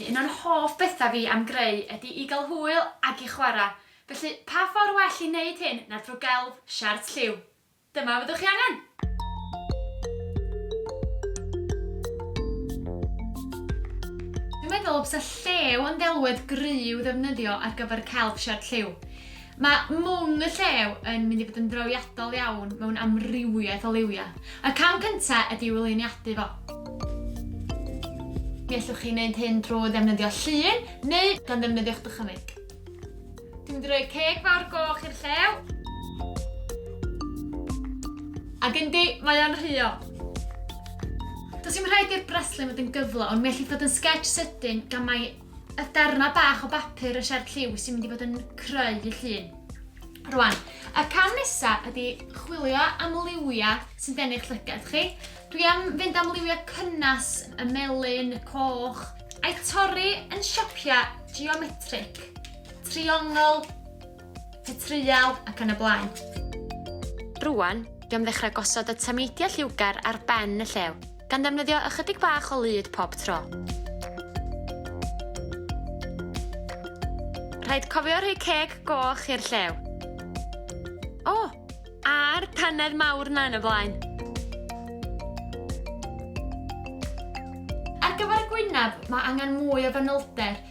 Un o'r hoff bethau fi am greu ydy i gael hwyl ac i chwarae, felly pa ffordd well i wneud hyn na thrwy gelf siart lliw? Dyma fyddwch chi angen! Dwi'n meddwl bysa llew yn ddelwedd gry i'w ddefnyddio ar gyfer celf siart lliw. Mae mwng y llew yn mynd i fod yn drawiadol iawn mewn amrywiaeth o liwiau. Y cam cyntaf ydy i'w luniadu fo. Mi allwch chi wneud hyn drwy ddefnyddio llun neu gan ddefnyddio'ch dychymyg. Dwi'n mynd i roi ceg fawr goch i'r llew. Ac yndi, mae o'n rhuo. Does dim rhaid i'r braslun fod yn gyflawn, mi allith fod yn sgets sydyn gan mai y darnau bach o bapur y siart lliw sy'n mynd i fod yn creu y llun. Rwan, y cam nesaf ydy chwilio am liwiau sy'n denu'ch llygad chi. Dwi am fynd am liwiau cynnes, y melyn, y coch, a'i torri yn siapiau geometric, triongl, Te treial ac yn y blaen. Rŵan, dwi am ddechrau gosod y tameidiau lliwgar ar ben y llew, gan ddefnyddio ychydig bach o lyd pob tro. Rhaid cofio rhoi ceg goch i'r llew. O! A'r tanedd mawr na yn y blaen. Ar gyfer y gwynaf, mae angen mwy o fanylder,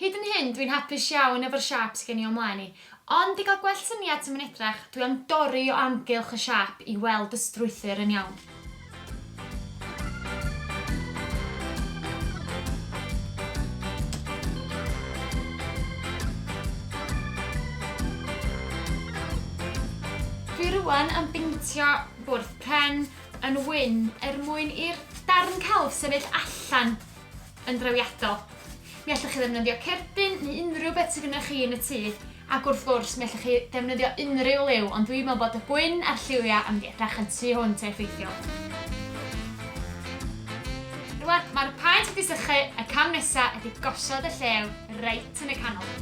Hyd yn hyn dwi'n hapus iawn efo'r siâp sy gen i o mlaen i. Ond i gael gwell syniad sut mae'n edrach, dwi am dorri o amgylch y siâp i weld y strwythur yn iawn. Dwi rŵan am beintio bwrdd pren yn wyn er mwyn i'r darn celf sefyll allan. yn drewiadol. Mi allwch chi ddefnyddio cerdyn neu unrhyw beth sydd gennych chi yn y tŷ, ac wrth gwrs mi allwch chi ddefnyddio unrhyw liw, ond dwi'n meddwl bod y gwyn a'r lliwiau yn mynd i edrach yn tu hwnt a effeithiol. Rwan, mae'r paent wedi sychu, y cam nesaf ydy gosod y llew reit yn y canol.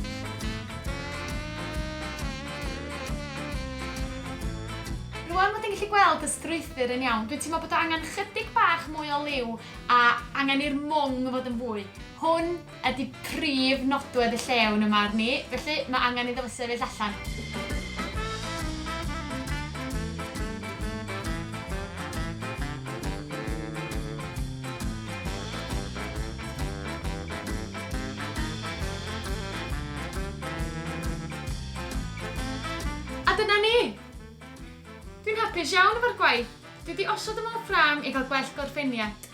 Rwan bod yn gallu gweld y strwythur yn iawn, dwi'n teimlo bod o angen chydig bach mwy o liw A angen i'r mwng fod yn fwy. Hwn ydi prif nodwedd y llew yn 'y marn i, felly mae angen iddo fo sefyll allan. A dyna ni! Dwi'n hapus iawn efo'r gwaith. Dwi 'di osod y mob ram i gael gwell gorffeniad.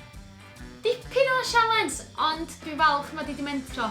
Dipyn o sialens, ond dwi'n falch mod i 'di mentro.